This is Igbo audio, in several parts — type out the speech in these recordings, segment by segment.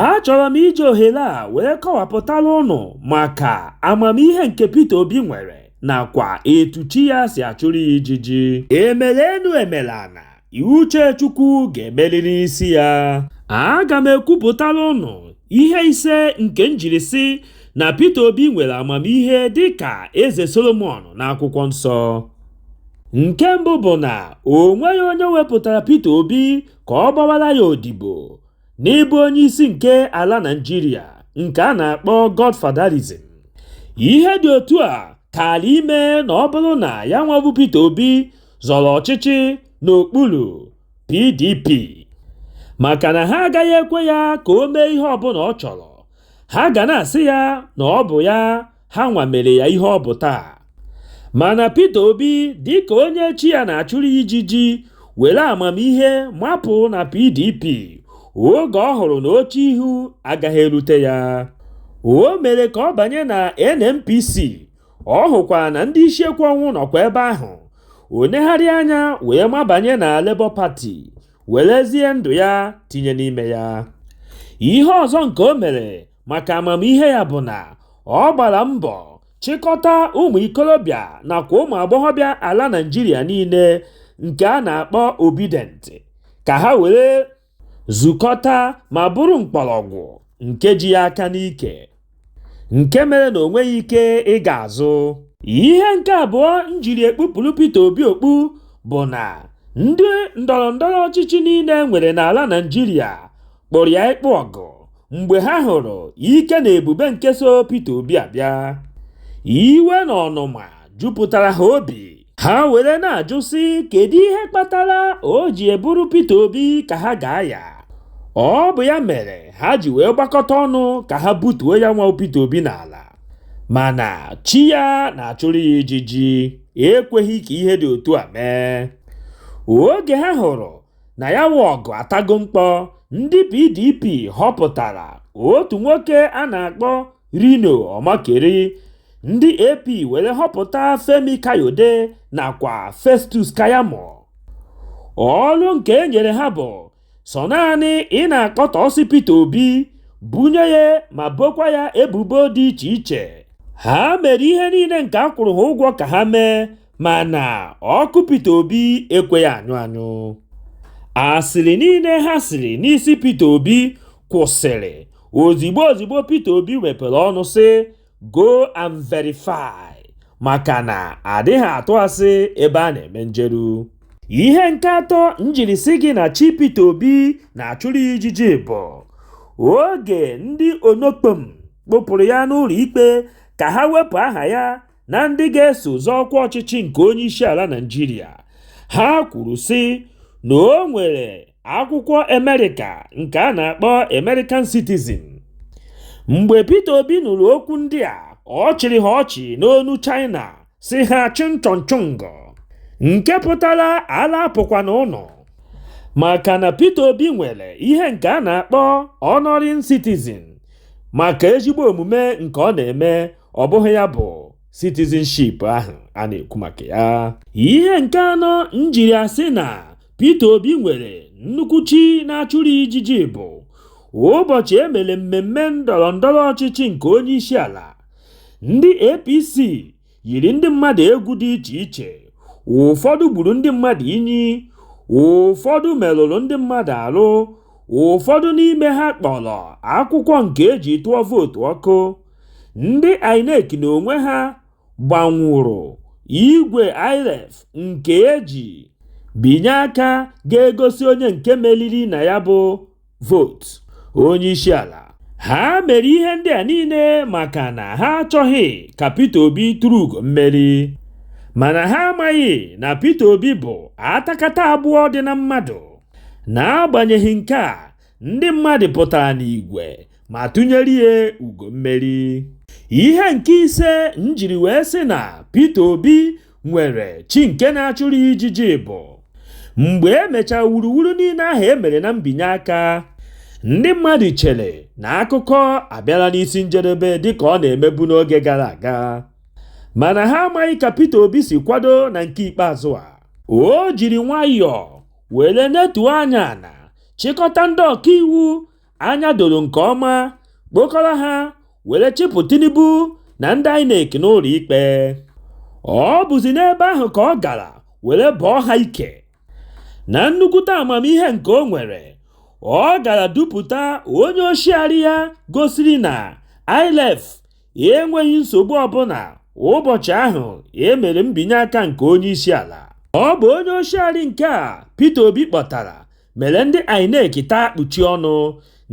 Achọrọ m iji ohere a wee kọwapụtara ụnụ maka amamihe nke Peter Obi nwere nakwa etu chi ya si achụrụ ya ijiji. Emere enu emere ana, uche Chukwu ga-emerịrị isi ya. Aga m ekwupụtara ụnụ ihe ise nke m jiri sị na Peter Obi nwere amamihe dịka Eze Solomọn n'akwụkwọ nsọ. Nke mbụ bụ na o nweghị onye wepụtara Peter Obi ka ọ gbawara ya odibo. n'ịbụ onye isi nke ala Naijiria nke a na-akpọ Godfatherism ihe dị otu a kaara ime na ọ bụrụ na ya nwa bụ Peter Obi zọrọ ọchịchị n'okpuru PDP maka na ha agaghị ekwe ya ka o mee ihe ọbụla ọ chọrọ ha ga na-asị ya na ọ bụ ya ha nwa mere ya ihe ọ bụ taa mana Peter Obi dịka onye chi ya na-achụrụ ijiji were amamihe mapụ na PDP oge ọ hụrụ na oche ihu agaghị erute ya o mere ka ọ banye na NNPC ọ hụkwa na ndị isi ekwe ọnwụ nọkwa ebe ahụ o negharị anya wee mabanye na Labour Party werezie ndụ ya tinye n'ime ya ihe ọzọ nke o mere maka amamihe ya bụ na ọ gbara mbọ chịkọta ụmụ ikorobịa nakwa ụmụ agbọghọbịa ala Naịjirịa niile nke a na-akpọ Obidient ka ha were zukọta ma bụrụ mkpọrọgwụ nke ji ya aka n'ike nke mere na o nweghị ike ịga azụ ihe nke abụọ m jiri ekpupụrụ Peter Obi okpu bụ na ndị ndọrọ ndọrọ ọchịchị niile e nwere n'ala Naịjirịa kpọrọ ya ịkpụ ọgụ mgbe ha hụrụ ike na ebube nke so Peter Obi abịa iwe na ọnụma jupụtara ha obi ha were na-ajụ sị kedu ihe kpatara o ji bụrụ Peter Obi ka ha ga-aya ọ bụ ya mere ha ji wee gbakọta ọnụ ka ha butuo ya nwa Peter Obi n'ala mana chi ya na-achụrụ ya ijiji ekweghị ka ihe dị otu a mee oge ha hụrụ na ya wụ ọgụ atago mkpọ ndị pdp họpụtara otu nwoke a na-akpọ reno omokri ndị ap were họpụta femi kayode nakwa festus keyamo ọrụ nke e nyere ha bụ sọ naanị ị na-akọtọsị peter obi bunye ya ma bokwa ya ebubo dị iche iche ha mere ihe niile nke a kwụrụ ha ụgwọ ka ha mee mana ọkụ Peter Obi ekweghị anyụ anyụ asịrị niile ha sịrị n'isi Peter Obi kwụsịrị ozigbo ozigbo Peter Obi wepere ọnụ sị go and verify maka na adịghị atụ asị ebe a na-eme njeru ihe nke atọ m jiri sị gị na chi Peter Obi na-achụrụ ya ijiji bụ oge ndị onokpom kpụpụrụ ya n'ụlọ ikpe ka ha wepụ aha ya na ndị ga-eso zọọ ọkwa ọchịchị nke onye isi ala Naịjirịa ha kwuru sị na o nwere akwụkwọ Amerịka nke a na-akpọ American Citizen mgbe Peter Obi nụrụ okwu ndị a ọ chịrị ha ọchị n'onu China sị ha chịnchọnchụngọ nke pụtara ala apụkwana unu maka na Peter Obi nwere ihe nke a na-akpọ honoring citizen maka ezigbo omume nke ọ na-eme ọ bụghị ya bụ citizenship ahụ a na-ekwu maka ya ihe nke anọ m jiri asị na Peter Obi nwere nnukwu chi na-achụrụ ya ijiji bụ ụbọchị e mere mmemme ndọrọ ndọrọ ọchịchị nke onye isi ala ndị APC yiri ndị mmadụ egwu dị iche iche ụfọdụ gburu ndị mmadụ inyi ụfọdụ merụrụ ndị mmadụ arụ ụfọdụ n'ime ha kpọrọ akwụkwọ nke e ji tụọ vootu ọkụ Ndị INEC n'onwe ha gbanwụrụ igwe IREV nke e ji binye aka ga-egosi onye nke meriri na ya bụ vootu onyeisiala. Ha mere ihe ndị a niile maka na ha achọghị ka Peter Obi turu ugo mmeri. Mana ha amaghị na Peter Obi bụ atakata agbụọ dị na mmadụ. N'agbanyeghị nke a, ndị mmadụ pụtara n'igwe ma tụnyere ya ugo mmeri ihe nke ise m jiri wee sị na Peter Obi nwere chi nke na-achụrụ ya ijiji bụ mgbe e mechara wuruwuru niile ahụ e mere na mbinye aka ndị mmadụ chere na akụkọ abịala n'isi njedebe dịka ọ na-emebu n'oge gara aga mana ha amaghị ka Peter Obi si kwado na nke ikpeazụ a o jiri nwayọọ Were netuo anya ana chịkọta ndị ọkaiwu anya doro nke ọma, kpokọrọ ha were chịpụ Tinubu na ndị INEC n'ụlọikpe. Ọ bụzi n'ebe ahụ ka ọ gara were bọọ ha ike. Na nnukwute amamihe nke o nwere, ọ gara dupụta onye oshiari ya gosiri na IREV enweghị nsogbu ọbụla ụbọchị ahụ e mere mbinye aka nke onye isi ala ọ bụ onye oshiari nke a Peter Obi kpọtara mere ndị INEC taa kpuchi ọnụ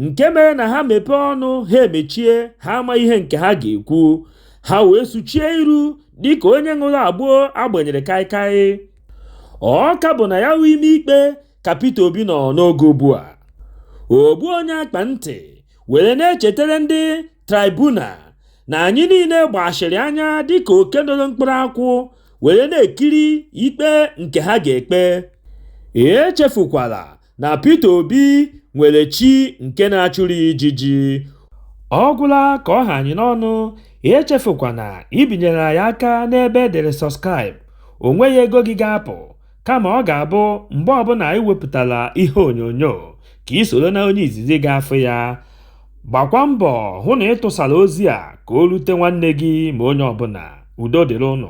nke mere na ha mepee ọnụ ha emechie ha ama ihe nke ha ga-ekwu ha wee suchie iru dịka onye ṅụrụ agbo a gbanyere kaikai ọ ka bụ na ya bụ ime ikpe ka Peter Obi nọ n'oge ugbu a ogbu onye akpa ntị were na-echetara ndị Tribunal na anyị niile gbachiri anya dịka oke noro mkpụrụ akwụ were na-ekiri ikpe nke ha ga-ekpe. Echefukwala na Peter Obi nwere chi nke na-achụrụ ya ijiji. Ọ gwụla ka ọ ha anyị n'ọnụ, echefukwana ibinyere anyị aka n'ebe e dere subscribe, o nweghị ego gị ga-apụ. kama ọ ga-abụ mgbe ọbụla anyị wepụtara ihe onyonyo ka i soro na onye izizi ga-afụ ya gbakwa mbọ hụ na ị tụsara ozi a ka o rute nwanne gị ma onye ọbụla udo dịrị ụnụ